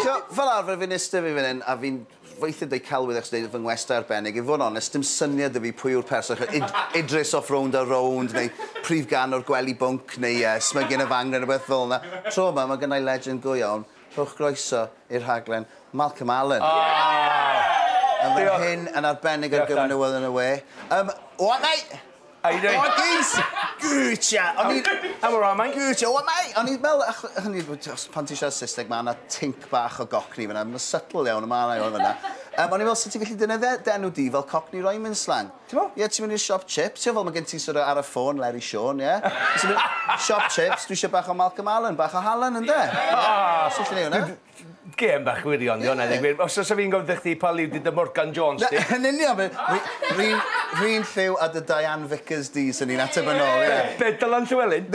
Ch'mo', fel arfer fi'n iste fi fan 'yn a fi'n weithie'n deud celwydd achos neud fy ngwestai arbennig. I fod yn onest, sdim syniad 'da fi pwy yw'r person ch'mo' Id- Idris off Rownd a Rownd neu prif gân o'r Gwely Bwnc neu yy Smygyn y Fangren ne' rwbeth fel 'na. Tro 'ma ma' gynnai legend go iawn, rhowch groeso i'r rhaglen, Malcolm Allen. O! Diolch! Yn fan hyn yn arbennig ar gyfer newyddion y we. Yym, o a mae! Ai rei? O geis! Gwytcha! O'n i... Am y rai mae'n gwytcha! O mai! O'n i fel... Hynny yw, pan ti'n siarad Saesneg, mae yna tinc bach o gocni fyna. Mae'n subtle iawn, mae yna iawn fyna. Um, o'n i fel, sut ti'n gallu dyna dde, denw di fel cockney rhyming slang? Ti'n mo? Ie, ti'n mynd i'r siop chips, ti'n fel, mae gen ti sort of ar y ffôn, Larry Sean, ie? Ti'n mynd, siop chips, dwi eisiau bach o Malcolm Allen, bach o Hallen, ynddo? Ah! Sut ti'n ei hwnna? Gêm bach gwirion 'di 'wn a dwi os fysa fi'n gofyn 'tha chdi pa liw 'di dy Morgan Jones di? Yn union fi fi fi'n r'un lliw â dy Diane Vickers di swn i'n ateb yn ôl ie. Be be Dylan Llewelyn?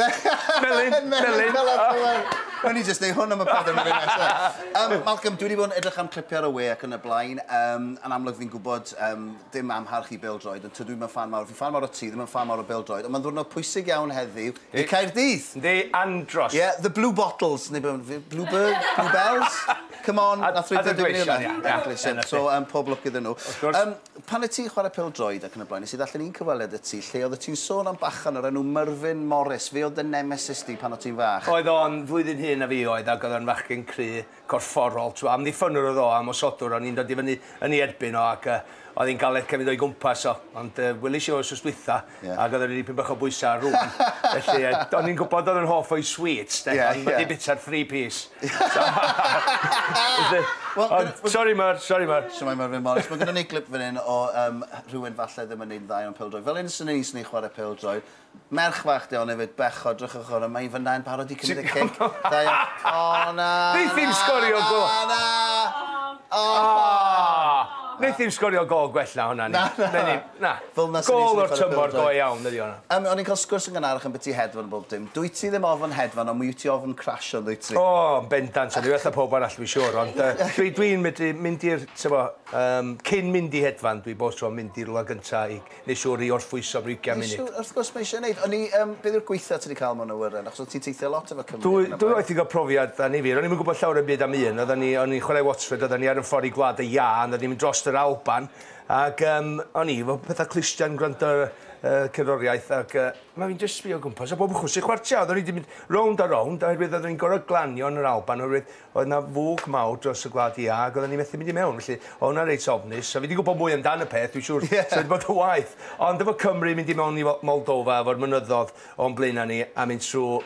Melin Melin Dylan Llewelyn. Newn ni jyst neu' hwn am y pedwar munud nesa. Yym Malcolm dwi 'di bod yn edrych am clipie ar y we ac yn y blaen yym yn amlwg fi'n gwbod yym dim amharch i bêl-droed, ond tydw i'm yn ffan mawr. Fi'n ffan mawr o ti, ddim yn ffan mawr o bêl-droed, ond mae'n ddiwrnod pwysig iawn heddiw i Caerdydd! Yndi, andros! Ie, the blue bottles, neu beth bynnag, blue bird, blue bells? Come on, wnaeth rhywbeth yn digwydd yna. Adleision, so pob lwc iddyn nhw. Wrth gwrs. Yym, pan wyt ti'n chwarae pêl-droed ac yn y blaen, wnes i ddarllen un cyfweliad y ti lle oeddet ti'n sôn am bachgen o'r enw Merfyn Morris. Fe oedd dy nemesis di pan o' ti'n fach. Oedd o'n flwyddyn hŷn na fi oedd, ac oedd o'n fachgen cry. corfforol, t'mo', amddiffynnwr oedd o a mosodwr, o'n i'n dod i fyny yn ei erbyn o ac yy oedd hi'n galed cefyd o'i gwmpas o. Ond yy welis i o wsos dwytha yeah. ac oedd o'n dipyn bach o bwysa ar rŵan. Felly yy, o'n i'n gwybod oedd yn hoff o'i sweets de, yeah, ond yeah. wedi bita'r three piece. well, ond, sorry Mar, sorry Mar. Siamai Merfyn Morris. Mae gynnu ni glip fan hyn o um, rhywun falle ddim yn neud dda iawn pildroed. Fel un sy'n ei sy'n ei chwarae pildroed, Merch fach 'di 'on efyd, bechod, drychwch ar 'on, mae 'i fyna yn barod i cymryd y cic. Da iawn. O na! Neith 'i'm sgorio gol! Na! Na! O! Neith 'i'm sgorio gol gwell na honna. Na, na. Menyn, na. Fel 'na swn i'n swnio ar y bêl-droed. Gol o'r tymor go iawn ydi honna. Yym, o'n i'n cael sgwrs yn gynharach ambyti hedfan a bob dim. Dwyt ti ddim ofn hedfan, ond mi wyt ti ofn crasio, yndwyt ti? O, yn bendant. O'n i well na pawb arall, dwi'n siŵr. Ond yy, dwi'n medru mynd i'r, t'bo', yym, cyn mynd i hedfan, dwi bob tro yn mynd i rywle gynta' i Nes siwr i orffwyso am 20 munud. Nes siwr, wrth gwrs mae eisiau neud. O'n i, um, beth yw'r gweitha ti wedi cael mewn awyren? Achos o'n ti'n teithio lot efo Cymru. Dwy, dwy waith i gael profiad da ni fir. O'n i'n mynd gwybod llawer yn byd am un. Oedden ni, o'n i'n chwarae Watford, oedden ni ar yn ffordd i Gwlad y Ia, oedden ni'n mynd dros yr Alban. Ac um, o'n i, fel pethau clustiau yn gwrando ar uh, cerddoriaeth. Ac uh, mae fi'n just sbio gwmpas. A bob chwrs i chwartiau, oedden ni wedi mynd rownd a rownd, oherwydd oedden ni'n gorau glanio yn yr Alban, oherwydd Oedd 'na fwg mawr dros y gwlad iâ ac oedden ni methu mynd i mewn, felly oedd hwnna'n reit ofnus. So fi 'di gwybod mwy amdan y peth, dwi'n siŵr, so wedi bod yn waeth. Ond efo Cymru, mynd i mewn i Moldova efo'r mynyddodd o'n blaenau ni a mynd trwy,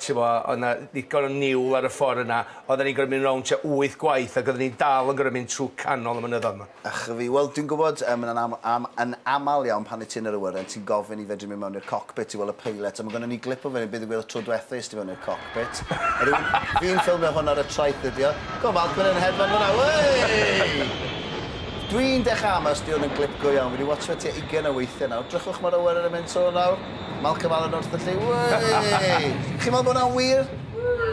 tibod, oedd 'na ddigon o niwl ar y ffordd yna, oedden ni'n gorfod mynd rownd tua wyth gwaith ac oedden ni dal yn gorfod mynd trwy canol y mynyddodd 'ma. A chwi, wel, dwi'n gwybod, mae hynna'n am, am, yn aml iawn pan wyt ti yn yr awyren, ti'n gofyn i fedru mynd mewn i'r cockpit i weld y pilot, a mae gynnon ni glip o fe, beth ddigwyddodd tro diwetha es ti fewn i'r cockpit. A rwy'n, fi'n ffilmio hwn ar y traeth ydi o. Go falch bod e'n hedfan fyna, wei! Dwi'n dechrau ama os di hwn yn glip go iawn, fi wedi watsio fe tua ugain o weithiau nawr. Drychwch mae'r awyren yn mynd to nawr. Malcolm Allen wrth y lli, wei! Chi'n meddwl bod hwnna'n wir?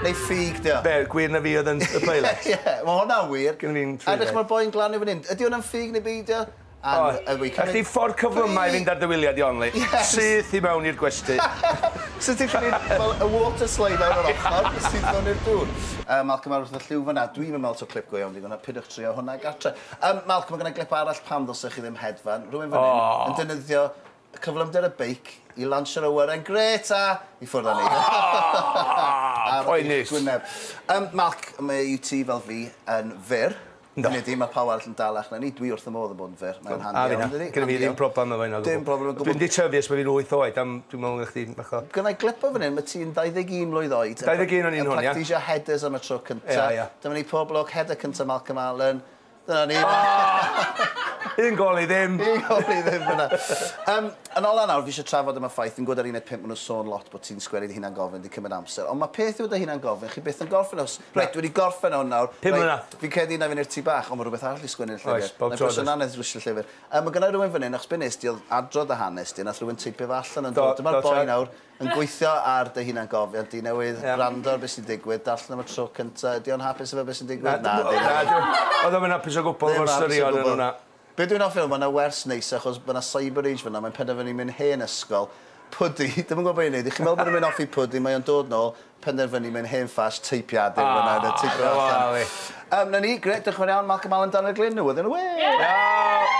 Neu ffug 'di o? Be', gwir na fi oedd yn y peilet? Ie, ie, ma' hwnna'n wir. Gynna fi'n ffug 'fyd. A edrych ma'r boi'n glanio fan 'yn. Ydi hwnna'n ffug neu beidio? O, a chdi ffordd cyflyma' i fynd ar dy wylia di Onley. Syth i mewn i'r gwesty. Sut ti'n gallu fel y water slide lawr yr ochr i syth mewn i'r dŵr? Yy Malcolm ar wrth y llyw fan 'na. Dwi'm yn me'wl taw clip go iawn 'di hwnna. Peidiwch trio hwnna gartre. Yym Malcolm ma' gynna glip arall pam ddylsech chi ddim hedfan. Rywun fan 'yn yn defnyddio Cyflymder y beic i lansio'r awyren grêt a i ffwrdd â ni. Ar eich gwyneb. Yym, Mark, mae i ti fel fi yn fyr. Yndw. Hynny ydi, mae pawb arall yn dalach na ni. Dwi wrth fy modd yn bod yn fyr. Mae'n handi iawn, yndydi? Gynna fi ddim problem efo hynna o gwbl. Dim problem o gwbl. Dwi'n 'di tyfu ers bo' fi'n wyth oed a m- dwi'n me'wl ma' chdi'n bach o... Gynna i glip o fan 'yn, ma' ti'n ddau-ddeg-un mlwydd oed... Dau-ddeg-un o'n i'n hwn, ia? ...yn practisio headers am y tro cynta. Ia, ia. Dyma ni, pob lwc, header cynta Malcolm Allen. Dyna ni. Oh! Un gol i ddim. Un gol i ddim fyna. Um, yn ola nawr, fi eisiau trafod am y ffaith, fi'n gwybod ar un pimp maen nhw'n sôn lot bod ti'n sgwennu dy hunan gofyn, di cymryd amser, ond mae peth yw dy hunan gofyn, chi byth yn gorffen os, reit, wedi gorffen hwn nawr, Pum mlynedd. fi'n credu na fi'n i'r tu bach, ond mae rhywbeth arall i sgwennu'r llyfr. Oes, bob tro. Mae'n anodd dwisio llyfr. Um, mae gynna rhywun fan hyn, achos be nes di, oedd adrodd dy hanes di, nath rhywun teipio fe allan yn dod. Dyma'r boi nawr, Yn gweithio ar dy hunangofiant di newydd wrando ar be' sy'n digwydd, darllen o am y tro cynta, ydi o'n hapus efo be' sy'n digwydd? Na. Nadi. Nadi. O'dd o'm yn apus o gwbwl efo'r straeon yn wnna. Be' dwi'n offi yw ma' 'na wers neis achos ma' 'na cyber age fynna mae'n penderfynu myn' hen ysgol. Pwdi, dim yn gwbo be' i neud i chi me'wl bod e myn' off i pwdi mae o'n dod nôl, penderfynu myn' hen ffas, teipiadur yn fynna a teipo allan. Aw, 'na ni, grêt, diolch yn fawr iawn Malcolm Allen, Daniel Glyn, newyddion y we! Helo!